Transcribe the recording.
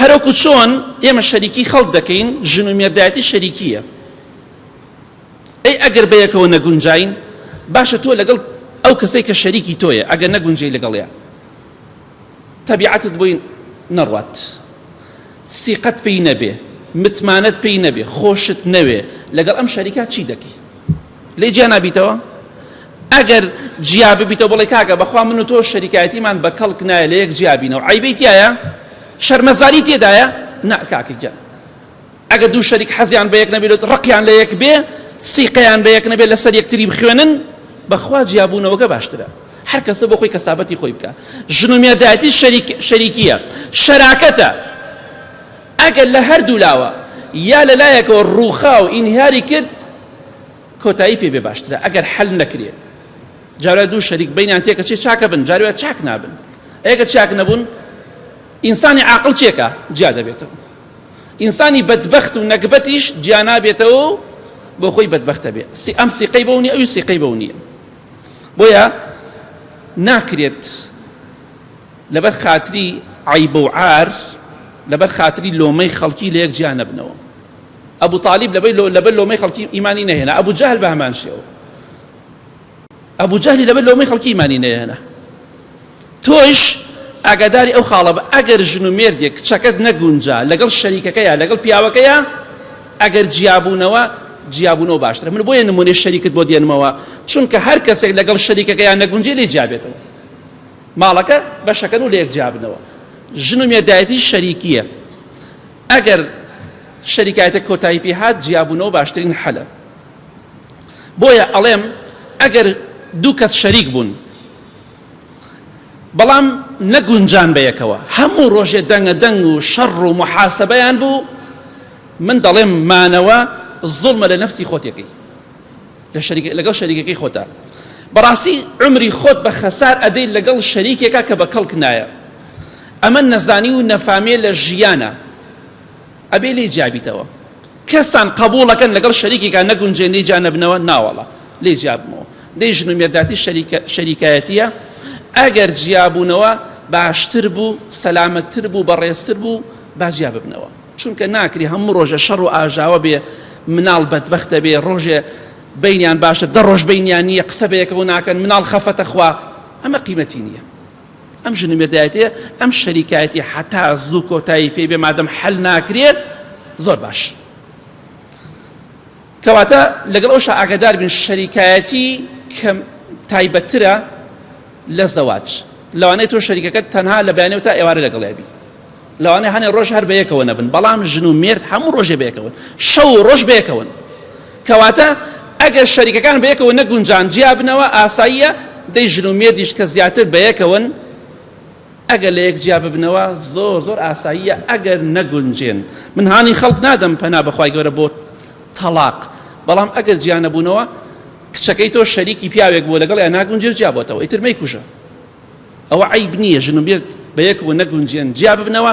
هەروەکو چۆن ئێمە شەریکی خەڵک دەکەین، ژن و مێردایەتی شەریکییە. ئەی ئەگەر بەیەکەوە نەگونجاین، باشە تۆ لەگەڵ ئەو کەسەی کە شەریکی تۆیە ئەگەر نەگونجێی لەگەڵیا، تەبیعەتت بۆی نەڕوات، سیقەت پێی نەبێ، متمانەت پێی نەبێ، خۆشت نەوێ، لەگەڵ ئەم شەریکە چی دەکەی؟ لێ جیا نابیتەوە ئەگەر جیا ببیتەوە بڵێ کاکە بەخوا من و تۆ شەریکایەتیمان بە کەڵک نایە لە یەک جیا بینەوە عیبەی تایە شەرمەزاری تێدایە نا کاکەگیان ئەگە دوو شەریک حەزیان بە یەک نەبێت ڕقیان لە یەک بێ سیقەیان بە یەک نەبێت لەسەر یەکتری بخوێنن بەخوا جیابوونەوەگە باشترە هەر کەسە بۆ خۆی کەسابەتی خۆی بکە ژن و مێردایەتی شەریکیە شەراکەتە ئەگەر لە هەردوو لاوە یا لە لایەکەوە ڕووخا و ئینهیاری کرد کۆتایی پێ بێ باشترە ئەگەر حل نەکرێ جارە دوو شەریک بینیان تێکەچێ چاکە بن جاروە چاک نابن ئەگە چاک نەبوون ئینسانی عاقل چێکە جیا دەبێتەوە ئینسانی بەدبخت و نەگبەتیش جیا نابێتەوە بۆ خۆی بەدبختە بێ سی ئەم سیقەی بەونی ئەوی سیقەی بەونیە بۆیە ناکرێت لەبەر خاتری عەیب و عار لەبەر خاتری لۆمەی خەڵکی لەیەک جیا نەبنەوە ئەبو تالیب لەبەی لۆ لەبەر لۆمەی خەڵکی ئیمانی نەهێنا ئەبو جەهل بە هەمان شێوە ئەبو جەهلی لەبەر لۆمەی خەڵکی ئیمانی نەهێنا تۆش ئاگاداری ئەو خاڵە بە ئەگەر ژن و مێردێک کچەکەت نەگونجا لەگەڵ شەریکەکەیە لەگەڵ پیاوەکەیە ئەگەر جیابوونەوە جیابوونەوە باشترە من بۆیە نمونێ شەریکت بۆ دێنمەوە چونکە هەر کەسێک لەگەڵ شەریکەکەیان نەگونجێ لێ جیابێتەوە ماڵەکە بەشەکەن و لەیەک جیابنەوە ژن و مێردایەتی شەریکیە ئەگەر شەریکایەتە کۆتایی پێ هات جیابوونەوە باشترین حەلە بۆیە ئەڵێم ئەگەر دوو کەس شەریک بوون بەڵام نەگونجان بە یەکەوە هەموو ڕۆژێ دەنگە دەنگ و شەڕ و محاسبەیان بوو من دەڵێم مانەوە زڵمە لە نفسی خۆتێکی لەگەڵ شەریکەکەی خۆتا بەڕاستی عمری خۆت بە خەسار ئەدەیت لەگەڵ شەریکێکا کە بە کەڵک نایە ئەمە نەزانی و نەفامێ لە ژیانە ئەبێ لێ جابیتەوە کەسان قبولەکەن لەگەڵ شەریکێکا نەگونجێن لێ جا نەبنەوە ناوەڵە لێ جابمەوە دەی ژن و مێرداتی شەریکایەتیە ئەگەر جیابوونەوە باشتر بوو سەلامەتتر بوو بەڕێزتر بوو باجیا ببنەوە چونکە ناکری هەموو ڕۆژێ شەڕ و ئاژاوە بێ مناڵ بەدبەختە بێ ڕۆژێ بینیان باشە دە ڕۆژ بینیان نییە قسە بەیەکەوە ناکەن مناڵ خەفەتە خوا ئەمە قیمەتی نییە ئەم ژن مێردایەتێ ئەم شەریکایەتی حتا زوو کۆتایی پێ بێ مادەم حل ناکرێ زۆر باش کەواتە لەگەڵ ئەوش ئاگادار بن شەریکایەتی کە تایبەتترە لە زەواج لەوانەیە تۆ شەریکەکەت تەنها لە بەیانەوە تا ئێوارە لەگەڵێبی لەوانەیە هەنێ ڕۆژ هەر بەیەکەوە نەبن بەڵام ژن و مێرد هەموو ڕۆژێ بەیەکەون شەو و ڕۆژ بەیەکەون کەواتە ئەگەر شەریکەکان بەیەکەوە نەگونجان جیا بنەوە ئاساییە دەی ژن و مێردیش کە زیاتر بەیەکەون ئەگەر لە یەک جیا ببنەوە زۆر زۆر ئاساییە ئەگەر نەگونجێن من هانی خەڵک نادەم پەنا بەخوای گەورە بۆ تەلاق بەڵام ئەگەر جیانەبوونەوە کچەکەی تۆ شەریکی پیاوێک بووە لەگەڵ یا ناگونجێ جیابەتەوە ئیتر مەی کوژە ئەوە عەیب نییە ژن و مێرد بەیەکەوە نەگونجێن جیاببنەوە.